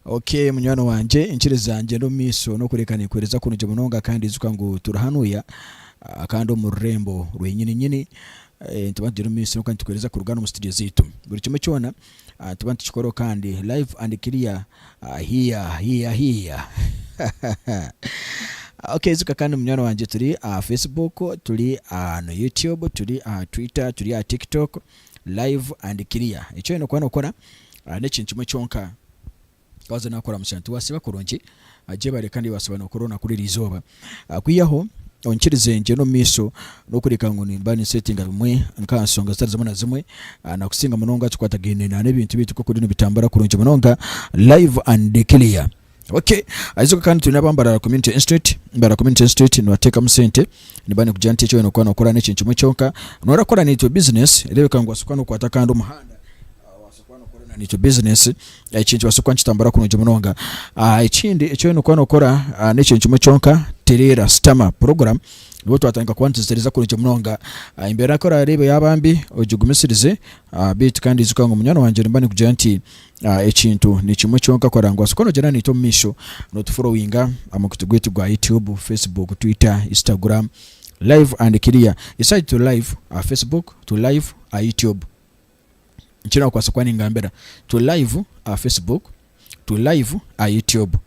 Ok munywani wangye nkiriza ngyende omumaiso nokureka nekwereza kurungi munonga kandi ijuka ngu turi hanuya kandi omururembo rwenyini nyini nituba nitugyenda omumaiso kandi nitukuhereza kurugana omu studio zaitu buri kimwe kyona nituba nitukikoraho kandi live and clear here here here hahahaa Ok ijuka kandi munywani wangye turi aha Facebook turi aha YouTube turi aha Twitter turi aha TikTok. live and clear. Eki oyine kuba nokora nekintu kimwe kyonka waza oyine kukora mukyaro tiwasiba kurungi gyebare kandi wasiba nokora orunakwo ruri erizooba kwihaho onkirize ngyende omumaiso nokureka ngu nimba ni settinga bimwe nkansonga zitari zimwe na zimwe nakusinga munonga ekikwatagaine nebintu byaitu nkokubitambura kurungi munonga live and clear. Okay ayizoka kandi twine aba Mbarara Community Institute, Mbarara Community Institute nibateekamu sente niba nikugira nti eki oyine kuba nookora n'ekintu kimwe kyonka noora kora naitwe business reebeka ngu obaase kuba nookwata kandi omuhanda obaase kuba nookora na naitwe business ekintu kibaase kuba nikitambura kurungi munonga. Ekindi eki oyine kuba nookora n'ekintu kimwe kyonka tereera, sitama, program nikwo twatandika kuba nituzitereeza kurungi munonga. Embeera ku oraareebe yaaba mbi ogigumisirize beitu kandi ijuka ngu munywani wangye nimba nikugira nti Ekintu nikimwe kyonka kora ngu basobole kunogyerana naitwe omu maisho, notuforowinga amukutu gwaitu gwa YouTube, Facebook, Twitter, Instagram, Live and Clear. Isaha egi turi live aha Facebook, turi live aha YouTube. Nikyo nakubaasa kuba ningambira. Turi live aha Facebook, turi live aha YouTube.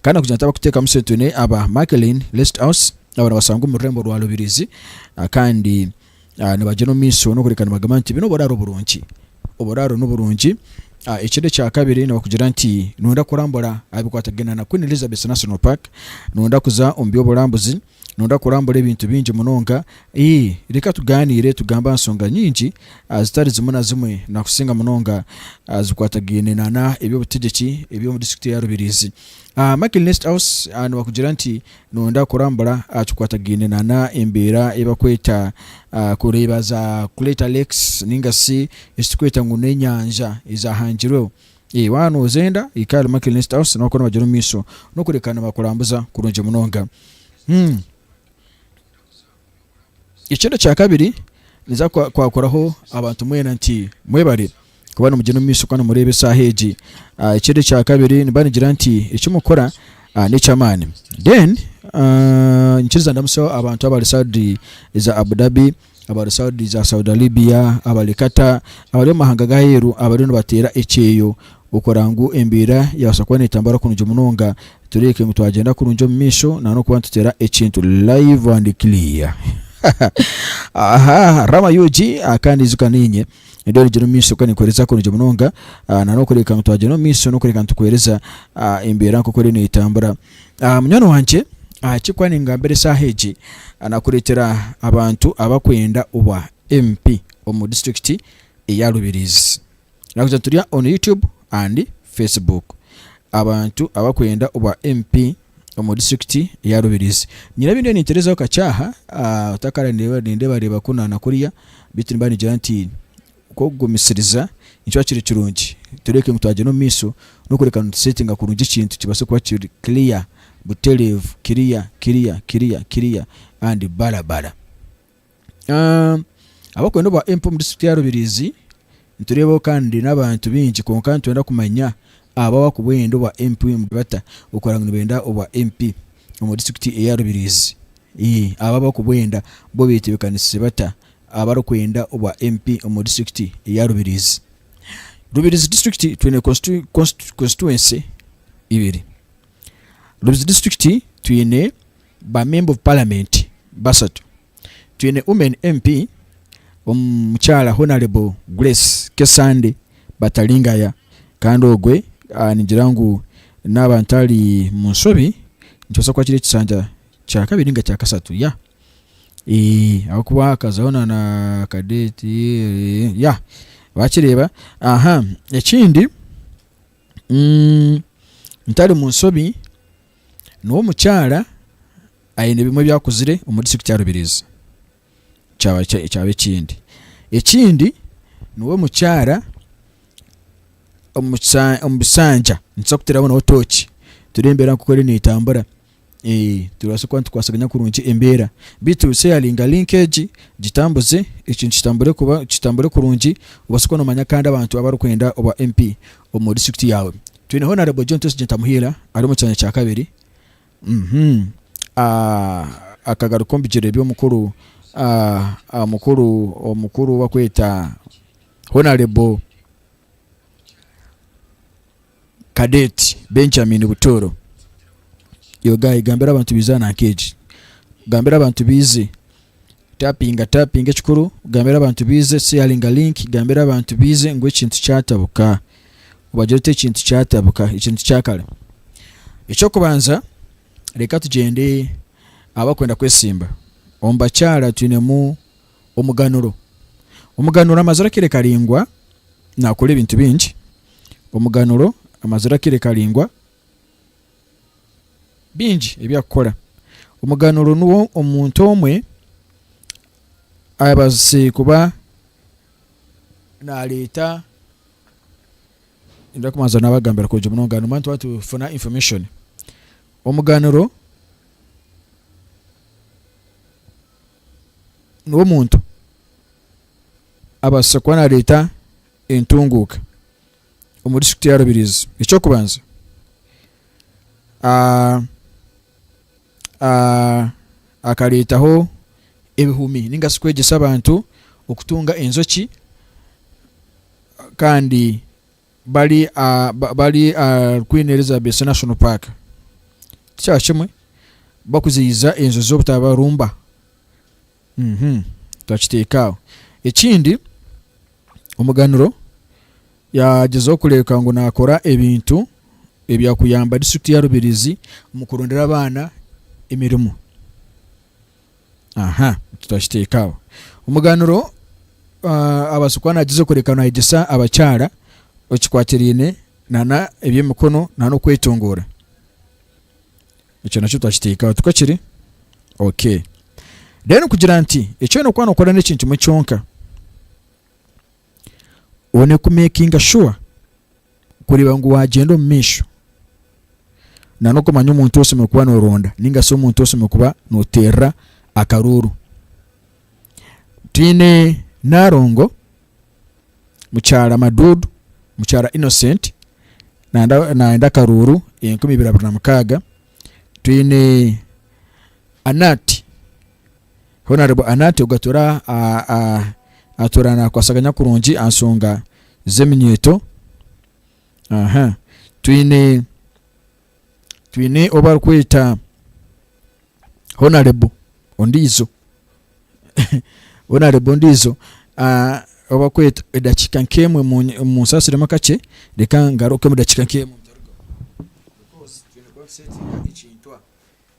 Kandi kugira nti abakuteekamu sentune aba Märklin Listhaus aba nibasangwa omu rurembo rwa Rubirizi kandi nibagyenda omu maisho n'okureka nibagamba nti binu oburaaro burungi. Oburaaro ni burungi. Ekindi ekya kabiri nibakugira nti noyenda kurambura aha bikwatagaine na Queen Elizabeth National Park, noyenda kuza omu by'oburambuzi, Nooda kurambura ebintu bingi munonga? Ii, reka tugaaniire tugambe aha nshonga nyingi zitari zimwe na zimwe na kusinga munonga zikwatagaine na na eby'obutegyeki eby'omu disiturikiti eya Rubirizi. A Michael Nesthaus a nibakugira nti nooda kurambura aha kikwatagaine na na embeera ei bakweta a kureeba za Crater Lakes ninga shi eki tukweta ngu n'enyanja ezaahangirweho. Ee, waaba noozenda, hika ahari Michael Nestauss nawe okore omubagyere omu maisho. N'okureka nibakurambuza kurungi munonga. Hmm. Ekindi ekya kabiri, ninza kwa, kwakoraho abantu mwena nti, Mwebare kuba nimugyenda omu maisho kuba nimureeba esaaha egi. Ah, ekindi ekya kabiri, nimba nigira nti eki mukora n'eky'amaani. Then, ah, ninkiriza ndamutseho abantu abari saudi za Abu Dhabi. abari Saudi za Saudi Arabia, abari Qatar, abari omu mahanga g'aheeru abariyo nibateera ekyeyo okureba ngu embeera yaabaasa kuba neetambura kurungi munonga tureebeke ngu twagyenda kurungi omu maisho na n'okuba nituteera ekintu live and clear. Aha Rama UG ah, kandi ijuka niinye ndi orugire omu maisho kandi nikuheereza kurungi munonga ah, na n'okureebeka ngu twagyenda omu maisho n'okureebeka nitukuheereza ah, embeera nk'oku eriyo neetambura Munywani wangye, ahaaki ku ningambira eshaaha egi? Nakureetera abantu abakwenda obwa MP omu district eya Rubirizi. Nakugira turi on YouTube and Facebook. Abantu abakwenda obwa MP omu district eya Rubirizi. Nyine ebindiyo ninterezaho kakye aha, otakara nindebareeba ku na kuriya, beitu nimba ningira nti. Nk'okugumisiriza, nikiba kiri kirungi tureeke ngu twagyenda omu maisho n'okureka nituseetinga kurungi ekintu kibaase kuba kiri clear, butereevu, clear, clear, clear, clear and bara bara. Ahabw'okuba n'obwa MP omu district ya Rubirizi, nitureebaho kandi n'abantu baingi kwonka nitwenda kumanya abo abarikuba barenda obwa MP bata okurora ngu nibenda obwa MP omu district eya Rubirizi? Abo abarikuba barikuba barenda bo betebeekanisize bata? abarikwenda obwa MP omu disiturikiti eya Rubirizi. Rubirizi disiturikiti twine konsituwensi ibiri. Rubirizi disiturikiti twine ba memba ovu paramenti bashatu. Twine wumeni MP omukyara honarebo Guresi Kesande Bataringaya kandi ogwe ningira ngu naaba ntari mu nshobi nikibaasa kuba kiri ekishanja kya kabiri ninga kya kashatu, ya. Eeh ahabw'okuba hakazaho na na ka date eeh yah wakireeba aha ekindi ntari mu nsobi niwe omukyara aine ebimwe ebi akuzire omu district ya Rubirizi kyaba kyaba ekindi. Ekindi niwe omukyara omu kisa omu bisanja nitubaasa kuteeraho nawe tooki turebe embeera nk'oku eriyo neetambura. Ee, turabaasa kuba nitukwatsaganya kurungi embeera. Beitu seyaringa link egi, gitambuze, ekintu kitambure kuba kitambure kurungi, obaase kuba noomanya kandi abantu abarikwenda obwa MP omu district yaawe. Twine Honourable John Twesize Ntamuhiira ari omu kyanya kya kabiri, akagaruka omu bigyere by'omukuru omukuru omukuru ou barikweta Honourable. Cadet Benjamin Butooro Yo guy gambira abantu baize aha nanka egi Gambira abantu baize Tapinga tapinga ekikuru Gambira abantu baize Sharinga link Gambira abantu baize ngu ekintu kyatabuka Obagira oti ekintu kyatabuka ekintu kyakare Eky'okubanza reka tugyende ahabw'abakwenda kwesimba Omu bakyara twinemu Omuganuro. Omuganuro amazire akaire karaingwa nakora ebintu bingi. Omuganuro amazire akaire karaingwa bingi ebi akukora. Omuganuro nuwo omuntu omwe abazise kuba nareta, ninza kubanza nabagambira kurugye omuri omuganuro mbwenu nituba nitufuna information. Omuganuro. ngu omuntu abaase kuba naareeta entunguuka omu disiturikiti ya Rubirizi. Eky'okubanza akareetaho ebihumi ninga shi kwegyesa abantu okutunga enjoki kandi bari aha bari ahari Queen Elizabeth National Park tikyakimwe bakuziyiza enju z'obutabarumba bakiteeka aho. Ekindi omuganuro yagyezaho kureebeka ngu nakora ebintu ebyakuyamba district ya Rubirizi omu kurondera abaana emirimo. Aha, tutakiteeka aho. Omuganuro, Abaasa kuba naagyeza okworeka ngu naayegyesa abakyara ekikwatiraine na eby'emikono na n'okwetongoora. Ekyo nakyo tutakiteeka aho, tikakiri? Okay. Then kugira nti, eki oine kuba nookora n'ekintu kimwe kyonka. One ku makinga sure kureeba ngu wagyenda omu maisho nana okumanya omuntu osemeriire kuba noronda ninga shi omuntu osemeriire kuba noterera akaruuru. Twine Narongo, mukyara Madudu, mukyara Innocent nanda nayenda akaruuru enkumi ibiri abiri na mukaaga, twine Anati. Honarebo Anati ogu atuura nakwasaganya kurungi aha nsonga z'eminyeeto. Twine ou barikweta Honarebo ondiijo edakiika nkemwe munsaasiremu akakye reka ngaruke omu dakiika nkemwe.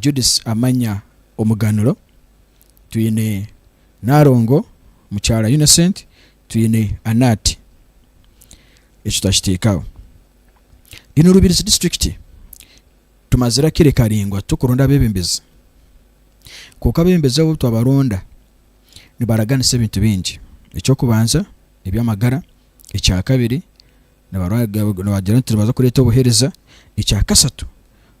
Judith Amanya Omuganuro, twine Narongo Mukyara Innocent, twine Anat. Ekyo twakiteekaho. In Rubirizi District tumazire akire karingwa turikuronda abebembezi kwonka abebembezi abo obutwabaronda nibaraganisa ebintu bingi, ekyokubanza ebyamagara, ekyakabiri Nibagira nti nibaza kureeta obuheereza. Ekya kasatu,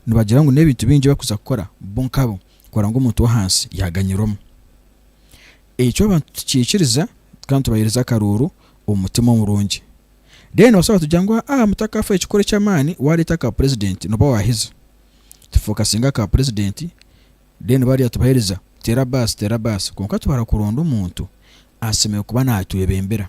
nibagira ngu n'ebintu bingi ebi barikuza kukora bo nkabo kukora ngu omuntu w'ahansi yaaganyirwamu. Ekyo abantu tukiikiriza kandi tubaheereza akaruuru omu mutima omurungi. Reero nibabaasa kugira ngu, Aa, mutakafa ekikoro eky'amaani waareeta aka purezidenti nooba waahize. Tufookasinga aha ka purezidenti, reero bariya tubaheereza teera baasi, teera baasi. Kwonka twara kuronda omuntu asemeriire kuba naatwebembera.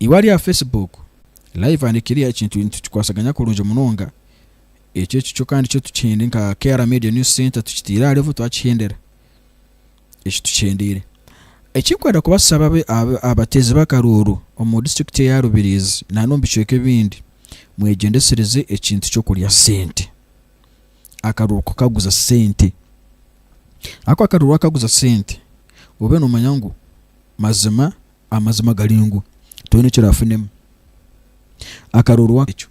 Eibara rya Facebook Live and Clear ekintu nitukikwasaganya kurungi munonga, ekyo ekikyo kandi kyo tukihende nka KR Media News Centre tukiteire aha level twakihendera eki tukihendeire. Ekinkwenda kubasaba abe abateezi b'akaruuru omu district eya Rubirizi na n'omu bicweka ebindi mwegyendesereze ekintu ky'okurya sente akaruuru kukaguza sente ahakuba akaruuru wakaguza sente obe nomanya ngu mazima Amazima gari ngu twena ekiraafunemu akaroorwa aha ekyo.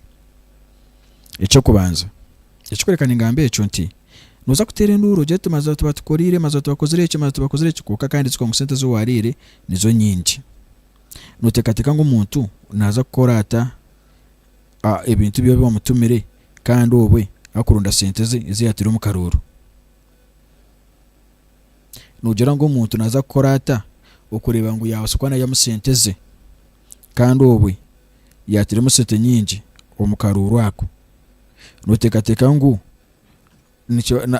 Eky'okubanza ekirikworeka ningamba ekyo nti, Nooza kuteera enduuru ogire oti mazooba tibatukoriire, mazooba tibakozire eki, mazooba tibakozire eki, kwonka kandi ekiri ngu sente ezi waariire nizo nyingi. Nooteekateeka ngu omuntu naaza kukora ata ebintu ebi waabaire wamutumire kandi obwe arikuronda sente ze ezi yaataire omu karooro? Noogira ngu omuntu naaza kukora ata okureeba ngu yaabaasa kuba naihamu sente ze kandi obwe yaatairemu sente nyingi omu karuuru ako? Nooteekateeka ngu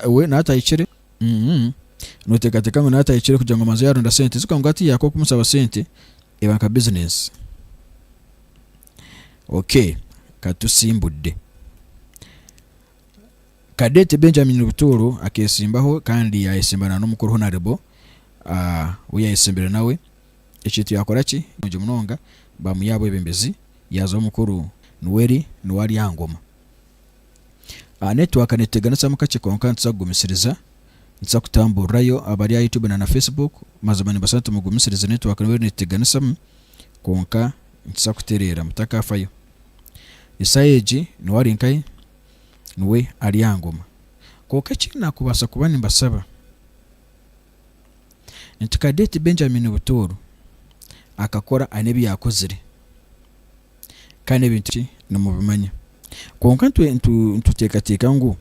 we naatahikire? Nooteekateeka ngu naatahikire kugira ngu abanze yaaronda sente zi? Kwonka hatiiya haakwo kumushaba sente eba nka bizineesi. Okay, ka tusimbudde. Kadeti Benjamin Butuuru akeesimbaho kandi yaayesimba na n'omukuru Honarebo ou yaayesimbire nawe. Ekintu yaakora ki? Nungi munonga, baamuha aha bwebembezi yaaza omukuru Nuweri niwe ari aha ngoma. Netiwaaka neetuteganisamu kakye kwonka nituza kugumisiriza. Nituza kutamburirayo abari aha Youtube na na Facebook. Mazima nimbaasa nti mugumisirize netiwaaka Nuweri neetuteganisamu kwonka nituza kutereera mutakaafayo. Isaaya egi niwe ari nkahi? Niwe ari aha ngoma. Kwonka eki naakubaasa kuba nimbasaba, nti kare oti Benjamin Butooro akakora aine ebi yaakozire kandi ebintu bye nimubimanya. Kwonka nituteekateeka ngu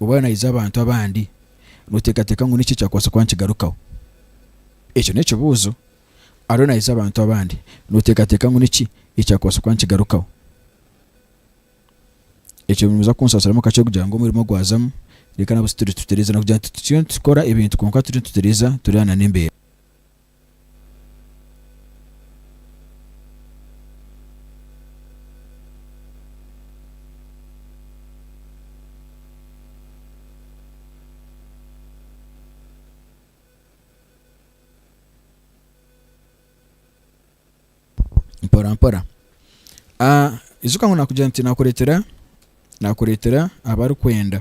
obu ariyo naija abantu abandi, nooteekateeka ngu n'eki ekyakubaasa kuba nikigarukaho? Ekyo n'ekibuuzo ariyo naayegyesa abantu abandi, nooteekateeka ngu niki ekyakubaasa kuba nikigarukaho? Ekyo nimuza kunsasiramu kakye kugira ngu omurimo ogwazamu, reka nabwe tituri nitutereeza na kugira ngu tituriyo nitukora ebintu kwonka turi nitutereeza turwana n'embeera. mporampora Ah, ijuka ngu nakugira nti nakureetera nakureetera abarikwenda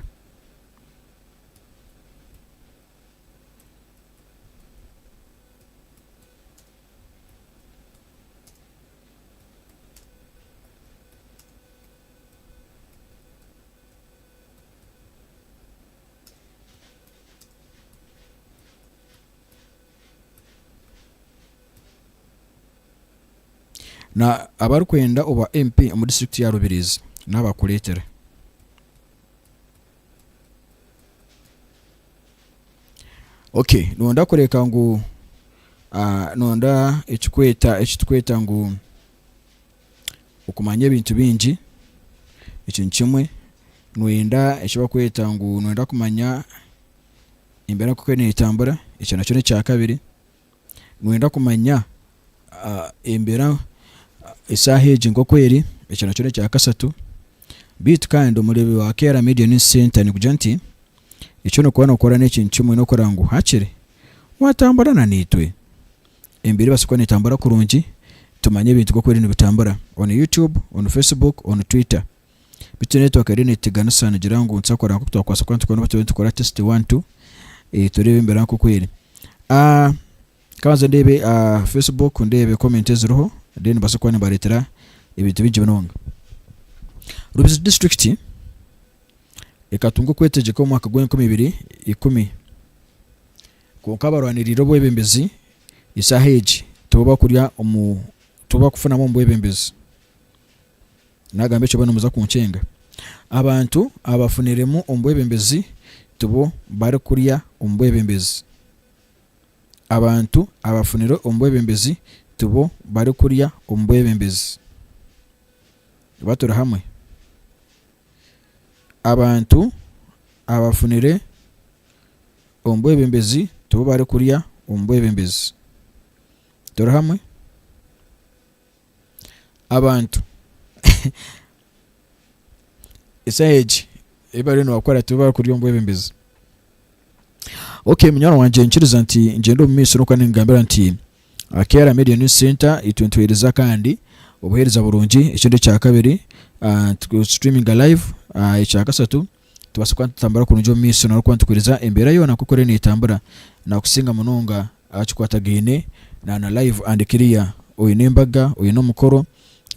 Na abarikwenda obwa MP omu district ya Rubirizi nabakureetere. Ok nonda kureka ngu ah, nonda ekikweta ekitukweta ngu okumanya ebintu bingi, ekyo ni kimwe, noyenda eki barikweta ngu noyenda kumanya embeera nk'oku eriyo netambura, ekyo nakyo n'ekya kabiri, noyenda kumanya embeera eshaaha egi nk'oku eri, ekyo nakyo n'ekya kashatu, beitu kandi omureebi wa KR Media News Centre nigugira nti eki orikuba nokora n'ekintu kimwe, nokureeba ngu hakiri watambura na itwe. Emibiri ebaasa kuba netambura kurungi tumanye ebintu nkoku biri nibitambura on YouTube, on Facebook, on Twitter. Bitu network eriyo netuteganisa nigira ngu nituza kukora nkoku twakubaasa kuba nitukora turiyo nitukora test one two tureebe embera nkoku eri. Kanze ndeebe Facebook ndeebe comment eziriho then mbaase kuba nimbareetera ebintu bingi munonga. Rubizzi district ekatunga okwetegyeka omu mwaka gwa enkumi ibiri ikumi Kwonka abarwaniriire obwebembezi eshaaha egi tibo bakurya omu tibo bakufunamu omu bwebembezi. Naagamba ekyo boona muza kunkyenga. Abantu abafuniremu omu bwebembezi tibo barikurya omu bwebembezi. Abantu abafunire omu bwebembezi tibo barikurya omu bwebembezi. Oba turi hamwe? Abantu abafunire omu bwebembezi tibo barikurya omu bwebembezi. Turi hamwe? Abantu esaaha egi ei bariyo nibakora tibo barikurya omu bwebembezi. Okay munywani wangye nkiriza nti ngyende omu maisho nikwo ningambira nti, Aha K'Era Media News Centre itwe nituheereza kandi obuheereza burungi, ekindi ekya kabiri tu streaminga live, ekya kasatu nitubaasa kuba nitutambura kurungi omu maisho nari kuba nitukureeza embeera yoona nk'oku eriyo neetambura nakusinga munonga aha kikwatagaine na na live and clear. Oine embaga, oine omukoro,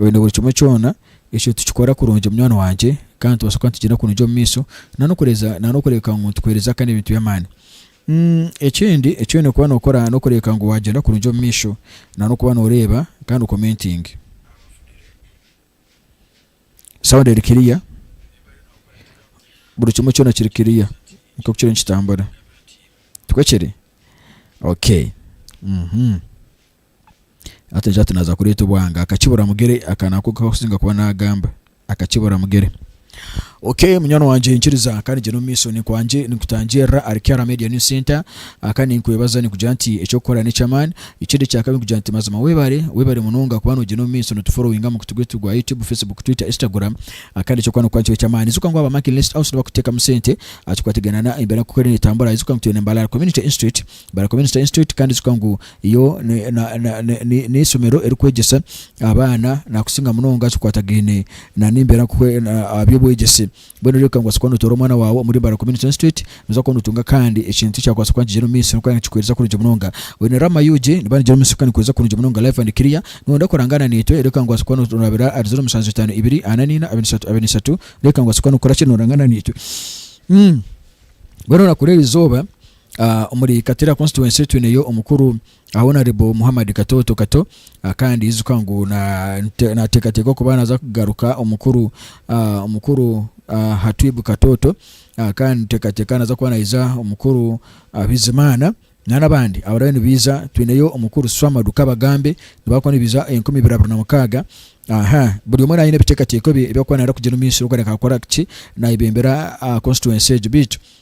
oine buri kimwe kyona ekyo tukikora kurungi munywani wangye kandi nitubaasa kuba nitugyenda kurungi omu maisho na n'okureeza na n'okureebeka ngu nitukuheereza kandi ebintu by'amaani. Ekindi eki oine kuba nookora n'okureebeka ngu waagyenda kurungi omu maisho na n'okuba nooreeba kandi okomentinge. Sound eri kiriya? Buri kimwe kyona kiri kiriya nk'oku kiriyo nikitambura? Tikwe kiri? Okay. Hati ati naza kureta obwanga akakibura mugere aka nako kakusinga kuba nagamba akakibura mugere. Ok munywani wangye nkiriza kandi gyenda omumaisho ninkwangye ninkutangirira ahari Kiara Media News Centre kandi ninkwebaza ninkugira nti ekyokukora nekyamaani. Ekindi ekyakabiri ninkugira nti mazima webare webare munonga kuba nogyenda omumaisho notuforowinga aha mukutu gwaitu gwa YouTube, Facebook, Twitter, Instagram kandi ekyokukora nokuba nikyo ekyamaani. Ijuka ngu aba Mark List House nibakuteekamu sente ahakikwatiraine na embeera nkoku eriyo netambura. Ijuka ngu twine Mbalala Community Institute. Barakoba Institute Institute kandi kikaba ngu yo n'eishomero erikwegyesa abaana nakusinga munonga kikwatagaine n'embeera nkoku aha by'obwegyese. Mbwenu reero kanga kuba notoora omwana waawe omuri Barakoba Institute Institute noza kuba notunga kandi ekintu ekyakubaasa kuba nikigyenda omu maisho kandi nikikuheereza kurungi munonga. Mbwenu Rama UG niba nigyenda omu maisho kandi nikuheereza kurungi munonga live and clear. Noyenda kurangaana naitwe reero kanga kuba noraabira ahari zeero mushanju itaano ibiri ana naina abiri ishatu abiri ishatu reero kanga kuba norakora ki norangaana naitwe. Mbwenu orakora erizooba Omuri Katira Constituency twineyo omukuru aha Honourable Muhammad Katooto Kato kandi ijuka ngu nateekateeka okuba naza kugaruka omukuru omukuru Hatwib Katooto kandi niteekateeka naza kuba naija omukuru Bizimana nana abandi abariyo nibaija twineyo omukuru Swamadu Kabagambe nibaza kuba nibaija enkumi ibiri abiri na mukaaga aha buri omwe naaba aine ebiteekateeko bye ebi arikuba nayenda kugira omumaisho arikuba nayenda kukora kuki nayebembera Constituency egyo beitu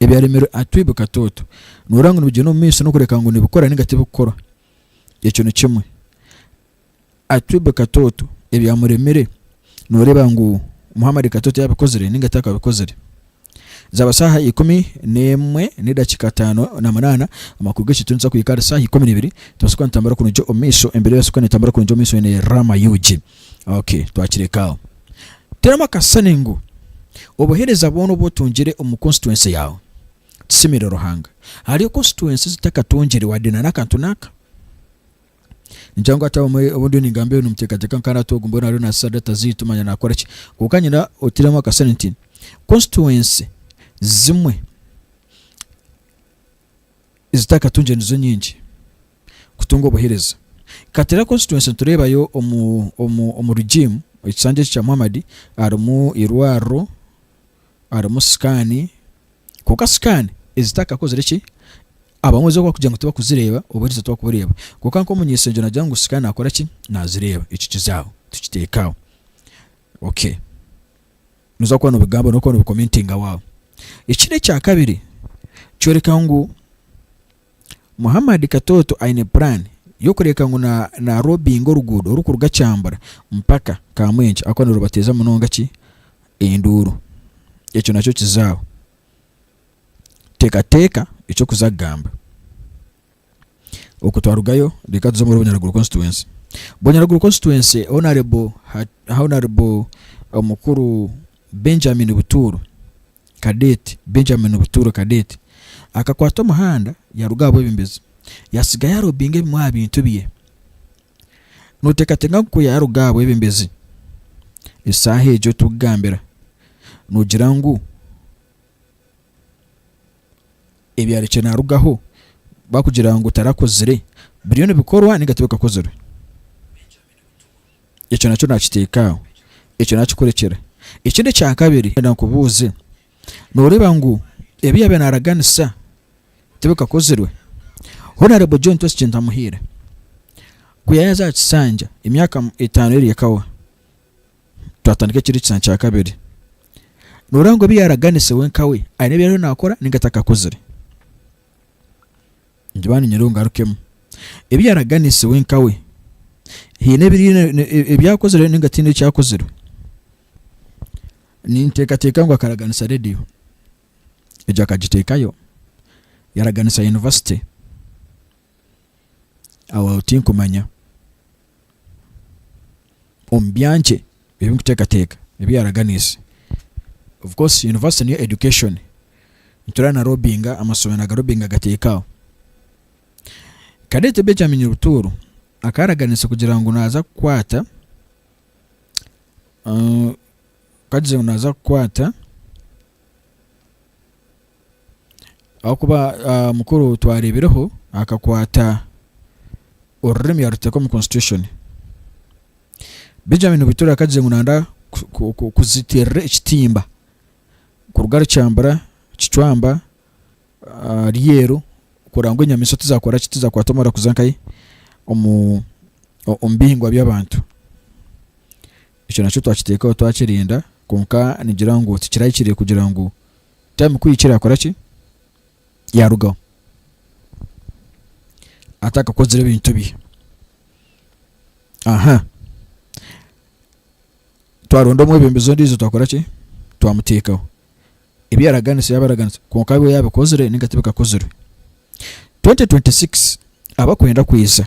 ebyaremirwe aha twibo katooto, noorora ngu nibigyenda omu maisho n'okureka ngu nibikora ninga tibikukora. Ekyo ni kimwe. Aha twibo katooto ebyamuremire nooreeba ngu Muhammad katooto yabikozire ninga takabikozire. Zaaba shaaha ikumi n'emwe n'edakiika ataano na munaana, amakuru g'ekyo turi nitubaasa kuhika ahari shaaha ikumi na ibiri, nitubaasa kuba nitutambura kurungi omu maisho, embeera ebaasa kuba neetambura kurungi omu maisho eine Raama UG. Ok, twakireka aho. Teeramu akasisani ngu, Obuheereza bwona obu otungire omu konsituwensi yaawe kishemeire Ruhanga. Hariyo konsituwensi ezi takatungire wadde na n'akantu n'aka? Ningira ngu hati abamwe obu ndiyo ningamba ebi nimuteekateeka ngu hati ogu mbwenu ariyo naasisa data zaitu manya naakora ki. Kwonka niinyenda oteeremu akasisani nti, Konsituwensi zimwe, ezitakatungire nizo nyingi kutunga obuhereza. Katera constituency nitureebayo omu omu omu regime ekisanja eki kya Muhammad harimu irwariro, harimu scan, kwonka scan ezitakakozire ki, abamwe zo bakugira ngu tibakuzireeba obuhereza tibakubureeba. Kwonka nkomunyesengye nagira ngu scan nakoraki, nazireeba. Ekyo kizaho, tukiteeke aho. Okay. Nooza kuba noobigamba n'okuba noobikomentinga waawe. Ekindi ekya kabiri, kyoreka ngu Muhammad Katooto aine puraani y'okureeka ngu na naarobbinga oruguudo orukuruga Kyambura mpaka Kamwenje ahakuba nirubateeza munonga ki enduuru. Ekyo nakyo kizaaho. Teekateeka eky'okuza kugamba. Okwo twarugayo reka tuze omuri Bunyaruguru constituency. Bunyaruguru constituency honourable honourable omukuru Benjamin Butuuro Cadet Benjamin Butuuro Cadet akakwata omuhanda yaruga aha bwebembezi yatsiga yarobinga ebimwe aha bintu bye. Noteekateeka ngu ku yaaruga aha bwebembezi esaaha egyo obu turikugambira noogira ngu ebyarikire narugaho bakugira ngu tarakozire biriyo nibikorwa ninga tibikakozirwe ekyo nakyo nakiteeka aho ekyo nakikurekyera ekindi ekyakabiri ndenda nkubuuze noreeba ngu ebi yaabaire naraganisa tibikakozirwe honarebo John Twesi Kintamuhiire kuyayaza aha kisanja emyaka etaano eri ekawa twatandika ekindi kishushani kya kabiri. Nooreeba ngu ebi yaaraganise we nkawe aine ebi ariyo naakora nainga atakakuzire? Ningira niinyenda ngarukemu. Ebi yaaraganise we nkawe haine ebi akozire nainga tihaine eki akozire? Ninteekateeka ngu akaraganisa reediyo, egyo akagiteekayo, yaaraganisa yunivasite, aho tinkumanya. omu byankye ebi ndikuteekateeka ebi yaaraganiise. Of course yunivasite niyo education, nitureeba na lobbyinga amashomeero aga lobbyinga agateeka aho. Cadet Benjamin Rutuuru akaba araganiise kugira ngu naaza kukwata ka tugire ngu naaza kukwata Ahakuba mukuru twareebireho akakwata orurimi yaruteeka omu constitution. Benjamin Butura akagire ngu nanda kuziteerera ekitimba kuruga ahari kyambura, kicwamba, ryeru kurora ngu enyamaishwa tizakora ki, tizakwata omuriro kuza nkahi omu omu bihingwa by'abantu. Ekyo nakyo twakiteekaho twakirinda kwonka ningira ngu tikirahikire kugira ngu time kuhikya erakora ki yarugaho atakakozire ebintu bye aha twaronda omwebembezi ondiijo twakora ki twamuteekaho ebi yaraganisa yaba araganisa kwonka abe yabikozire ninga tibikakozirwe 2026 abakwenda kwiza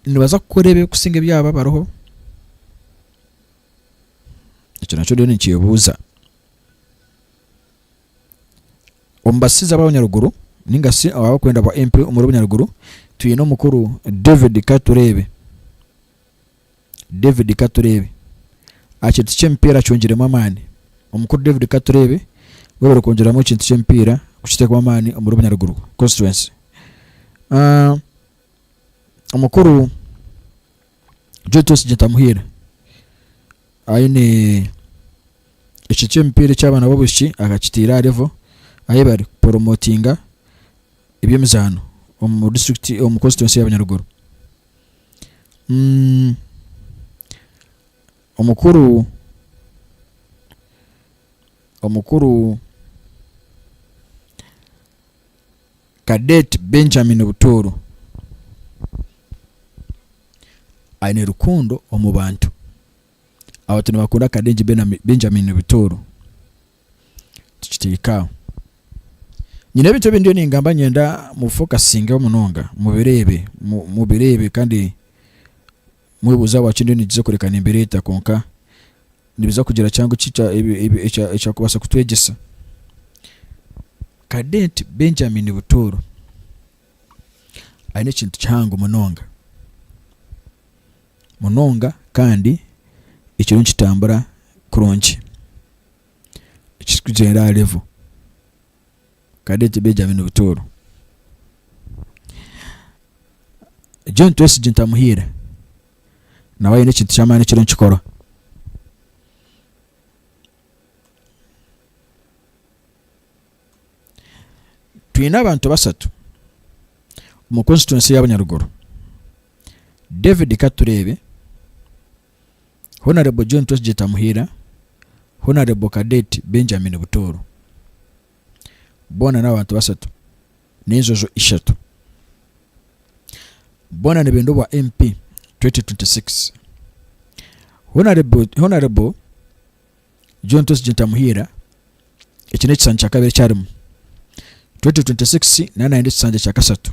nibaza kukora ebikusinga ebyaba bariho Ekyo nakyo oriyo nikyebuuza? Omu basiizi ab'abanyaruguru ninga shi abarikwenda bwa MP omuri Bunyaruguru, twine omukuru David Katureebe. David Katureebe. Aha kintu ky'emipiira acungiremu amaani. Omukuru David Katureebe weyebembire kwongyeramu ekintu ky'emipiira kukiteekamu amaani omuri Bunyaruguru constituency. Omukuru Joe Twesigye Ntamuhiire aine ekiti ky'emipiira eky'abaana b'obwishiki akakiteire aha level ahi bari kuporomotinga eby'emizaano omu district omu constituency ya Bunyaruguru. Mm, omukuru omukuru. Cadet Benjamin Butooro aine rukundo omu bantu. Abantu nibakunda Cadet Benjamin Butooro. Tukiteeka aho. Nyine ebintu ebi ndiyo ningamba niinyenda mubifokasingeho munonga, mubireebe, mubireebe kandi Mwebuuze ahabwaki endiho nigiza kureka nembeera eta, kwonka nibiza kugira kihango ki ekyakubaasa kutwegyesa? Kadenti Benjamini Butooro aine ekintu kihango munonga munonga kandi ekiriyo nikitambura kurungi ekirikugyendera aha level. kandi egi begi abaine butooro John Twesige Ntamuhiire nawe aine ekintu kyamaani ekiriyo nikikorwa twine abantu basatu omu constituency ya Bunyaruguru David Katureebe Honarebo John Twahigye Tamuhiira, Honarebo Cadet Benjamin Butooro. Boona n'abantu bashatu n'enjojo ishatu. Boona nibenda obwa MP 2026. Honarebo Honarebo John Twahigye Tamuhiira eki n'ekishanja kya kabiri eki arimu. 2026 naaba naayenda ekishanja kya kashatu.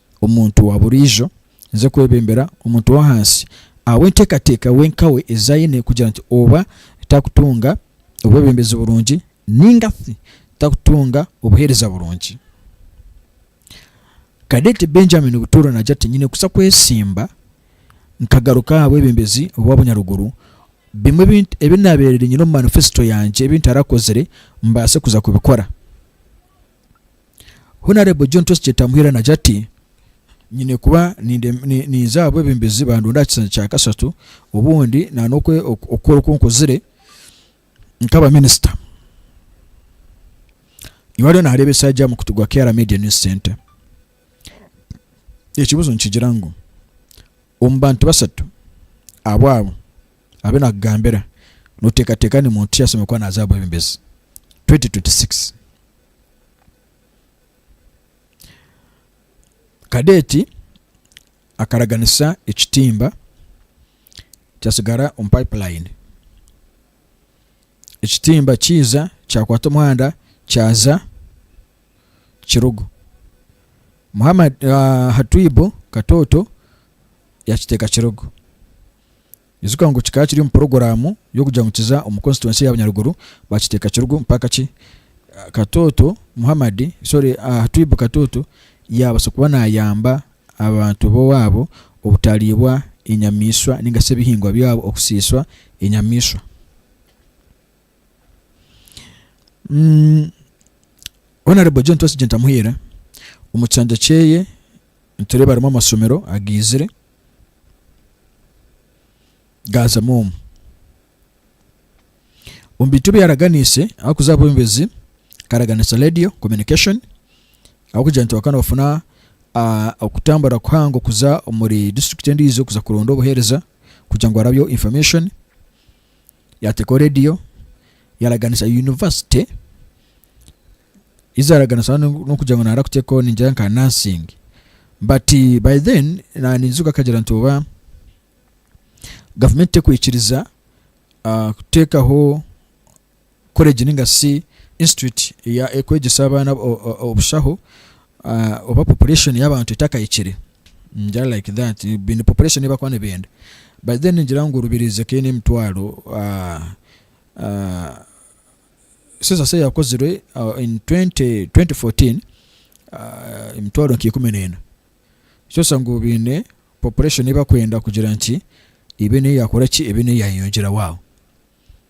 omuntu wa buriijo naiza kwebembera omuntu w'ahansi ahabw'enteekateeka we nkawe ezi aine kugira nti oba takutunga obwebembezi burungi nainga shi takutunga obuheereza burungi. Cadet Benjamin Butuura naagira ati, Nyine kuza kwesimba nkagaruka aha bwebembezi obw'obunyaruguru, bimwe ebi ebi naabaire nyine omu manifesito yangye ebi ntarakozire mbaase kuza kubikora. Honourable John Tosi Kyetamuhira nagya ati, Nyine kuba ninza aha bwebembezi bandonda aha kisanja kya kashatu obundi nana okukora oku nkozire nkaba minister. Iwe ariyo nareeba eshaagi aha mukutu gwa KR Media News Centre. Ekibuzo nikigira ngu omu bantu bashatu abu abo, Abe naakugambira, Nooteekateeka ni muntu ki ashemereire kuba naaza aha bwebembezi 2026? Kadeeti akaraganisa ekitimba kyatsigara omu payipulayini. Ekitimba kiija kyakwata omuhanda kyaza Kirugu. Muhamad Hatwibu Katooto yakiteeka Kirugu. Ijuka ngu kikaba kiri omu puroguraamu y'okugira ngu kiza omu konsituwensi ya Bunyaruguru baakiteeka kirugu mpaka ki Katooto Muhammad, sorry Hatwibu Katooto yaabaasa kuba naayamba abantu b'owaabo obutaariibwa enyamaishwa nainga shi ebihingwa byabo okusiiswa enyamaishwa. Honourable John Twasigyenta Muhiira omu kishangye kyeye Nitureeba harimu amasomero agaizire gaazamu omu omu bintu ebi yaaraganiise ahakuza aha bwombezi akaraganisa radio communication ahabw'okugira nti bakaba nibafuna okutambura kuhango kuza omuri disiturikiti endiijo kuza kuronda obuheereza kugira ngu harabeho information Yateekaho radiyo, yaaraganisa yunivasite, yaaraganisa n'okugira ngu naija kuteekaho ningira nka nursing. But by then naaniijuka akagira nti oba gavumenti terikwikiriza kuteekaho Koleji ninga shi Institute ekwegyesa abaana obushaho oba population yabantu etakahikire ngira like that baine population eyi bakuba nibenda but then ngira ngu Rubirizi ekaba eine emitwaro census eyi yakozirwe in twenty twenty fourteen emitwaro nka ikumi na ena nikyoresa ngu baine population eyi bakwenda kugira nki ebe neyi yakoraki ebe neyi yayeyongyeraho aho.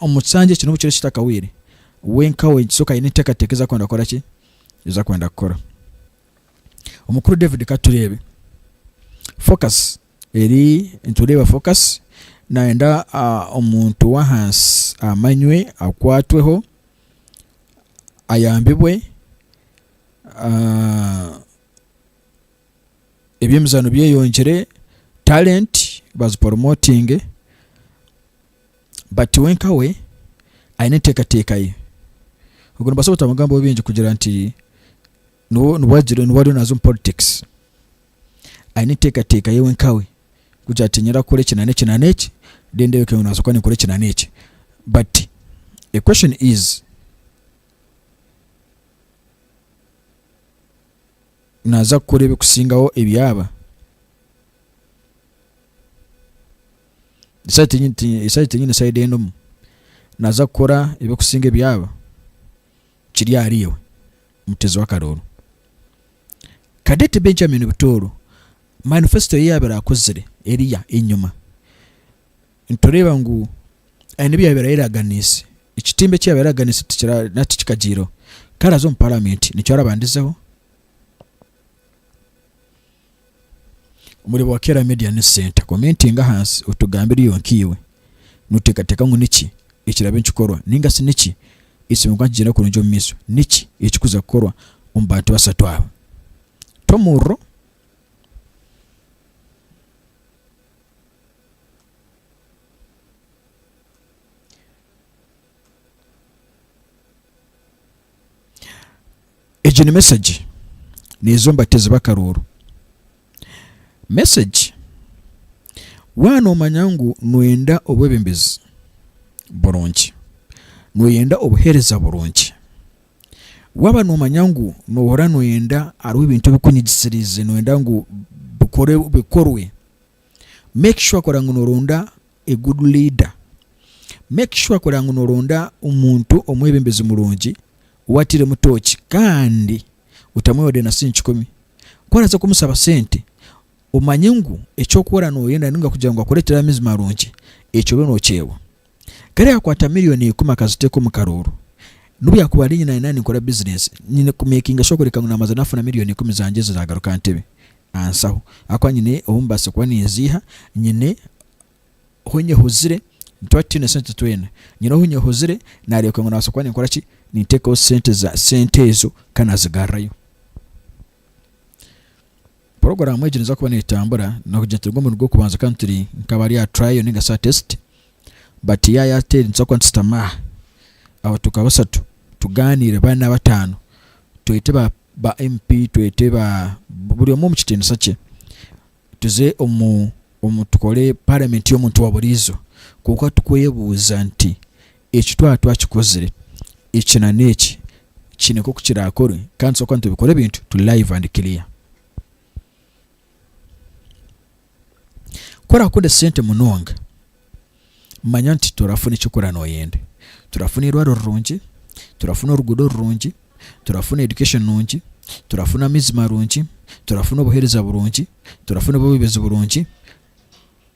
omu kisanja eki n'obu kiriyo kitakawaire, we nkawe nikituuka kuba haine enteekateeka ezi arikwenda kukora ki, ezi arikwenda kukora. Omukuru David ka tureebe focus eri, nitureeba focus naayenda omuntu w'ahansi amanywe, akwatweho, ayambibwe. eby'emizaano byeyongyire, talenti baziporomotinge bati we nka we aine enteekateeka ye. Obwo nimbaasa obutamugambaho bingi kugira nti niwe niwe agire niwe ariyo naaza omu politics. Aine enteekateeka ye we nka we kugira ati niinyenda kukora eki na n'eki na n'eki then ndebeke ngu naaza kuba ninkora eki na n'eki but the question is, naaza kukora ebikusingaho ebi aba. Esaati enyine side endimu naaza kukora ebikusinga ebi aba kiri ahari iwe mutezi w'akarooro. Cadette Benjamin Butooro manifesto ye yaabire akozire eriya enyima. nitureeba ngu aine ebi yaabaire ayeraganiise, ekitimba eki yaabaire ayeraganiise tikira nari tikikagyireho. Ku araaze omu Paramenti nikyo arabandizeho. Omureeba wa Kera Media ni Ssenta. Komentinga ahansi otugambe eriiwe nkaiwe nooteekateeka ngu niki ekiraabe nikikorwa nainga shi niki ekiine kuba nikigyenda kurungi omu maisho. Niki ekirikuza kukorwa omu bantu bashatu aba? Ta omuriro. Egi ni mesegi neeza omu bateezi b'akarooro. Mesegi waaba noomanya ngu nooyenda obwebembezi burungi, nooyenda obuheereza burungi, waaba noomanya ngu noohurira nooyenda hariho ebintu ebikunyigisiriize nooyenda ngu bikore bikorwe Make sure kora ngu noronda a good leader. Make sure kora ngu noronda omuntu omwebembezi murungi ou atairemu tooki kandi otamu wadde na sente kikumi. Ku araaze kumusaba sente, omanye ngu eki orikukora nooyenda nainga kugira ngu akureetere amaizi marungi, ekyo obe nookyewa. Kare yakwata miriyoni ikumi akaziteeka omu karooro. N'obu yaakuba ari nyina naanye ninkora bizineesi, nyine kumeekinga shuwa kureka ngu naabanza naafuna miriyoni ikumi zangye ziraagaruka ntebe ansaho ahakuba nyine obu mbaasa kuba ninziiha, nyine ohu nyehuzire, nituba tutaine sente twena, nyine ohu nyehuzire naareebeka ngu naabaasa kuba ninkora ki, ninteekaho sente za sente ezo kandi naazigarrayo. Puroguraamu egi neeza kuba neetambura n'okugira nti omurundi gw'okubanza kandi turi nk'abari aha trial ninga shi aha test but yaaya teri nitubaasa kuba nitushutama aha abo tuka bashatu tugaaniire bana bataano twete ba ba MP twete ba buri omwe omu kitiinisa kye tuze omu omu tukore parliament y'omuntu wa buriijo kwonka tukwebuuza nti Eki twaba twakikozire, eki na n'eki kiine nk'oku kiraakorwe kandi nitubaasa kuba nitubikora ebintu turi live and clear. Ku oraakunda esente munonga, manya nti toraafuna eki orikukora nooyenda. Toraafuna eirwariro rirungi, toraafuna oruguudo rurungi, toraafuna education nungi, toraafuna amaizi marungi, toraafuna obuheereza burungi, toraafuna obubeezi burungi,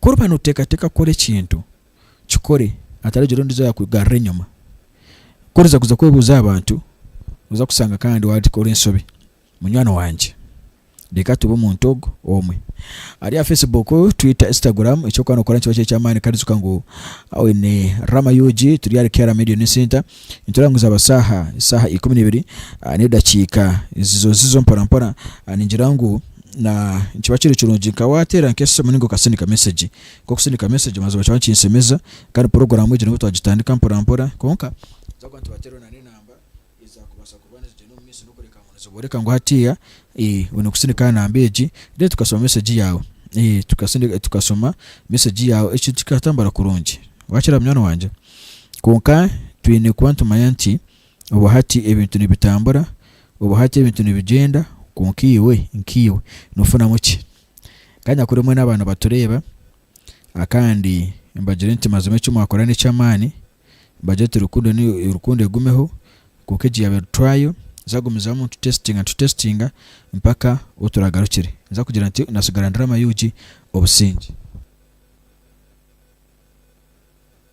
Ku oriba nooteekateeka kukora ekintu, kikore hataragira ondiijo yaakugarura enyima. Ku oriza kuza kwebuuza aha bantu, oza kushanga kandi waakora enshobi. Munywani wangye, reeka tube omuntu ogwo omwe. Ari aha Facebook, Twitter, Instagram, eki orikuba nookora nikiba kiri eky'amaani kandi ijuka ngu oine Rama UG, turi ahari KRAM Education Centre, Nikireebeka ngu zaaba shaaha shaaha ikumi neibiri n'edakiika ziizo ziizo mporampora, ningira ngu nikiba kiri kirungi nka waateera nk'esimu nainga okasindika mesegi, nk'okusindika mesegi mazima kiba nikinshemeza kandi puroguraamu egi nibwo twagitandika mporampora kwonka ninza kugira nti waateeraho na n'enamba eza kubaasa kuba nizigyenda omu maisho n'okureeba ngu nizibooreka ngu hatiiya oine kusindika aha namba egi then tukashoma mesegi yaawe tukashoma mesegi yaawe ekintu kikatambura kurungi. Waakira munywani wangye? Kwonka twine kuba nitumanya nti obu hati ebintu nibitambura, obu hati ebintu nibigyenda, kwonka iwe nkaiwe nofunamu ki? Kanyakuri mwena aba nibatureeba kandi mbagire nti mazima eki mwakora nekyamaani, mbagire nti rukundo ni rukundo egumeho, kwonka egi yaabe rutwayo, nza kugumizamu nitu testinga nitu testinga mpaka obu turagarukire nza kugira nti natsigara ndurama ug obusingye.